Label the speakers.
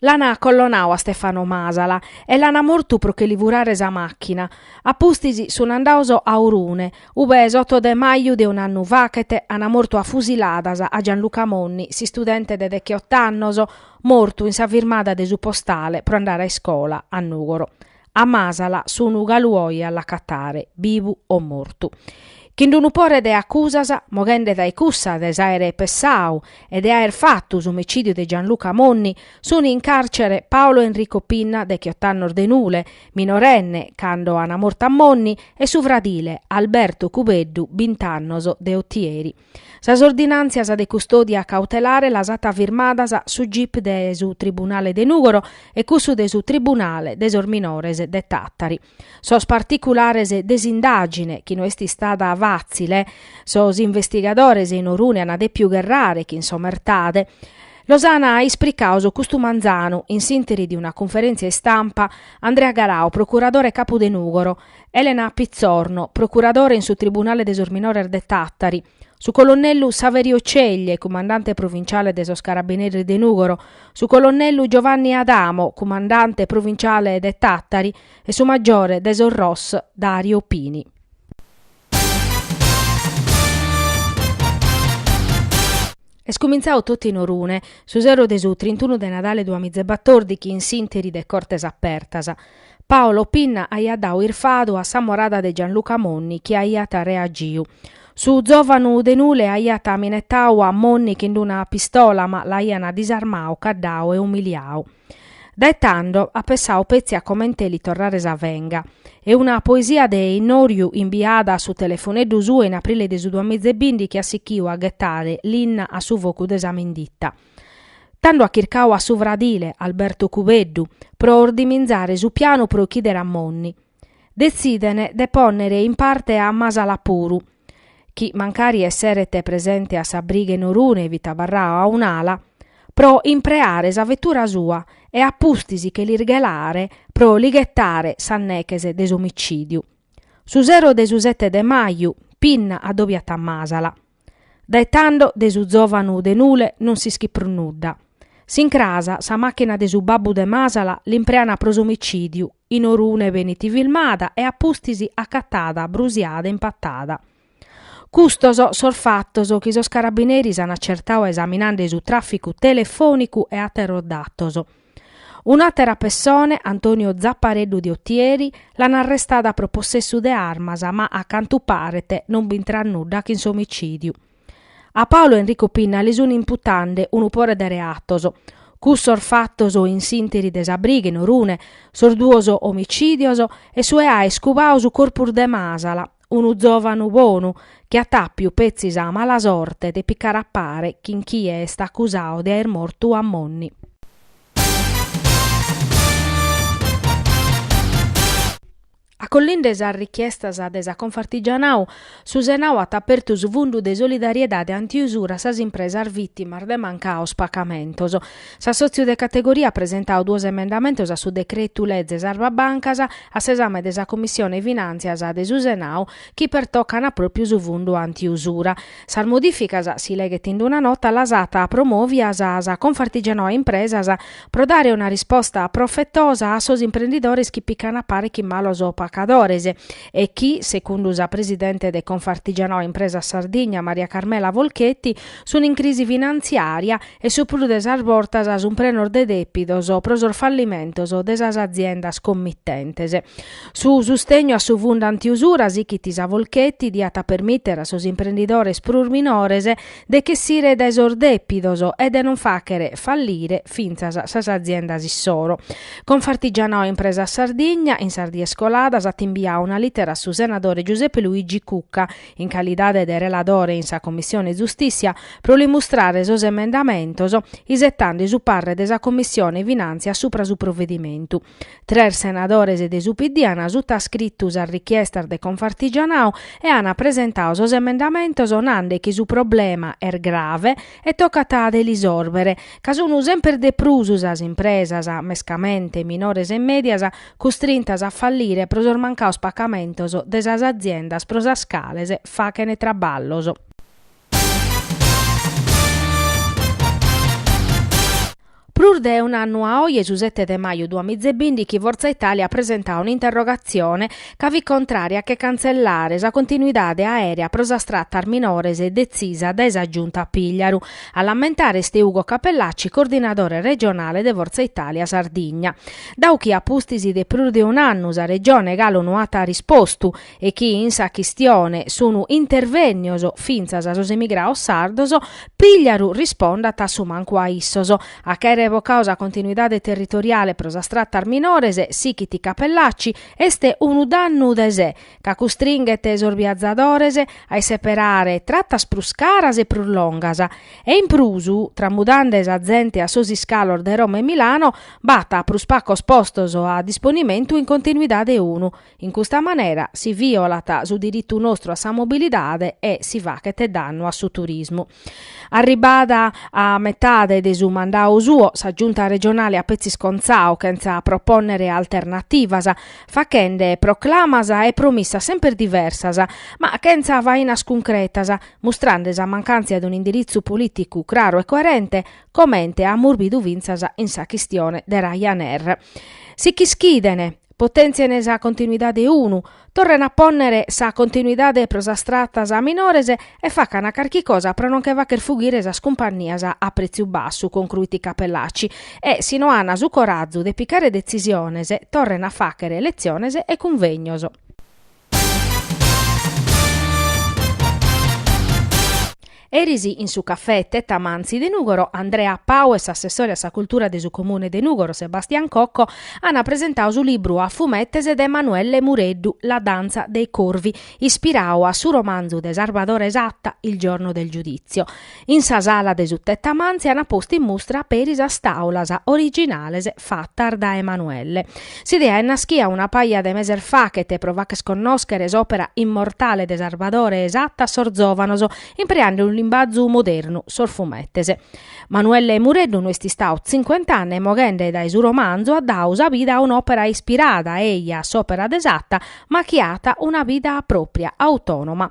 Speaker 1: L'ana acollonau a Stefano Masala e l'ana mortu pro che li furare sa machina. A pustis sun andados a Orune, ube s'oto de maju de un'annu fachet ana mortu a fusiladas a Gianluca Monni, s'istudente de dechiott'annos, mortu in sa firmada de su postale pro andare a iscola, a Nugoro. A Masala sunu galu oi a l'acatare, bibu o mortu. Chin d'unu pore de accusas, moghende dae cussa de s'aere pessau e de aer fattu s'omicidiu de Gianluca Monni, suni in carcere Paolo Enrico Pinna dechiott'annos de Nule, minorenne cando ana mortu a Monni, e su fradile Alberto Cubeddu bint'annos de Otieri. Sas ordinàntzias de custòdia cautelare las at firmadas su gip de su tribunale de Nùgoro e cussu de su tribunale de sos minores de Tàtari. Sos particulares de s'indàgine, chi no est istada fàtzile, sos investigadores in Orune an dèpiu gherrare chin s'omertade, los an ispricados custu manzanu in s'ìnteri de una cunferèntzia istampa Andrea Garau, procuradore capu de Nùgoro, Elena Pizzorno, procuradore in su Tribunale de sos Minores de Tàtari, su colonnellu Saverio Ceglie, cumandante provinciale de sos Carabineris de Nùgoro, su colonnellu Giovanni Adamo, cumandante provinciale de Tàtari, e su maggiore de sos Ros Dario Pini. Est cumintzadu totu in Orune, su sero de su trintunu de Nadale duamiza e batòrdighi in s'interi de Cortes Apertas. Paolo Pinna aiat dadu irfadu a s'amorada de Gianluca Monni chi aiat reagiu. Su zòvanu de Nule aiat minetadu a Monni chin una pistola ma l'aian disarmadu, caddadu e umiliadu. Dae tando at pensadu petzi a comente li torrare sa venga. E una poesia de innòriu imbiada a su telefoneddu suo in aprile de su duamiza e bìndichi at sichidu a ghetare linna a su focu de sa vinditta. Tando at chircadu a su fradile, Alberto Cubeddu, pro ordiminzare su pianu pro ochìdere a Monni. Detziden de pònnere in parte a Masala puru, chi mancari esseret presente a sa briga in Orune fit abarradu a un'ala, pro impreare sa vetura sua e a pustis che l'irghelare pro li ghetare sas neches de s'omicìdiu. Su sero de su sete de maju, Pinna adobiat a Masala. Dae tando de su zòvanu de Nule non s'ischit prus nudda. S'in cras sa màchina de su babbu de Masala l'impreana pro s'omicìdiu, in Orune benit filmada e a pustis acatada, brusiada, in Patada. Custos sos fatos chi sos carabineris an acertadu esaminande su tràficu telefònicu e àteros datos. Un'àtera pessone, Antonio Zappareddu de Otieri, l'an arrestada pro possessu de armas ma a cantu paret non b'intrat nudda chin s'omicìdiu. A Paolo Enrico Pinna li sun imputande unu pore de reatos. Cussos fatos in s'ìnteri de sa briga in Orune, sos duos omicìdios e su 'e aer cubau su corpus de Masala, unu zovanu bonu chi at apiu petzi sa mala sorte de picare a pare chin chie est accusau de aer mortu a Monni. Acollinde sas richiestas de sa Confartigianau, su Senau at apertu su fundu de solidariedade anti usura a sas impresas vitimas de mancaus pacamentos. S'assòtziu de categoria at presentau duos emendamentos a su decretu leze Sarva Bancas a s'esame de sa Commissione Finàntzias de su Senau chi pertocana pròpriu su fundu antiusura. Sas modìficas, si leghet in una nota, las at promòvias sa Confartigianau Impresas pro dare una risposta profetosa a sos imprendidores chi pican a pare chi malos pacadores. e chi, secundu sa presidente de Confartigianau Impresas Sardigna Maria Carmela Folchetti, sun in crisi finantziària e su prus de sas bortas sun prenos de dèpidos pro sos fallimentos de sas aziendas commitentes. Su sustegnu a su fundu antiusura, sichit sa Folchetti, diat permìtere a sos imprendidores prus minores de ch'essire dae sos dèpidos e de non fàchere fallire fintzas sas aziendas issoro. Confartigianau Impresas Sardigna, in sas dies coladas, at imbiau una lìtera a su senadore Giuseppe Luigi Cucca, in calidade de reladore in sa Commissione Giustìssia, pro li mustrare sos emendamentos, isetande su parre de sa Commissione Finàntzia supra su provedimentu. Tres senadores de su PD an sutascritu sas richiestas de Confartigianau e an presentau sos emendamentos nande chi su problema est grave e tocat de l'isòrbere, ca sun semper de prus sas impresas, mescamente minores e mèdias, custrintas a fallire pro sos mancaos pacamentos de sas aziendas pro sas cales fachen traballos. Prus de un'annu a oje, su sete de maju duamiza e bìndichi, Forza Italia at presentadu un'interrogatzione ca fit contrària a che cantzellare sa continuidade aèrea pro sas tratas minores detzisa dae sa Giunta Pigliaru. A l'ammentare est Ugo Cappellacci, coordinadore regionale de Forza Italia Sardigna. Dau chi a pustis de prus de un'annu sa Regione galu no at rispostu e chi in sa chistione sunu intervennios fintzas sos emigrados sardos, Pigliaru rispondat a su mancu a issos. A ch'àere revocao sa continuidade territoriale pro sas tratas minores, sighit Cappellacci, est unu dannu de se, ca custringhet sos biazadores a isseperare tratas prus caras e prus longas. E in prus, tramudende sa zente a sos iscalos de Roma e Milano, b'at prus pacos postos a disponimentu in continuidade unu, In custa manera si violat su diritu nostru a sa mobilidade e si faghet dannu a su turismu. Arribbada a metade de su mandadu suo, sa Giunta regionale at petzi scontzadu chentza propònnere alternativas, faghende proclamas e promissas semper diversas, ma chentza fainas cuncretas, mustrende sa mancàntzia de un'indiritzu polìticu craru e coerente, comente amus bidu fintzas in sa chistione de Ryanair. Si ch'ischiden potèntzien sa continuidade unu, torrene a pònnere sa continuidade pro sas tratas minores e facant carchi cosa pro non che fagher fughire sas cumpannias a prètziu bassu, concruit Cappellacci, e si no an su corazu de picare detzisiones torrene a fàghere letziones e cunvegnos. Eris in su cafè Tettamanzi de Nùgoro, Andrea Pau e s'assessore a sa cultura de su Comune de Nùgoro, Sebastian Cocco, ant presentadu su libru a fumetes de Manuelle Mureddu, La danza dei corvi, ispiradu a su romanzu de Salvadore Satta, Il giorno del giudizio. In sa sala de su Tettamanzi an postu in mustra peri sas tàulas originales fatas dae Manuelle. S'idea est naschia una paja de meses faghet pro fagher connòschere s'òpera immortale de Sarvadore Satta a sos zòvanos, impreende unu limbazu modernu, sos fumetes. Manuelle Mureddu no est istadu tzincuent'anne moghende dae su romanzu at dadu sa vida a un'òpera ispirada, eja, a s'òpera de Satta, ma chi at una vida pròpria, autònoma.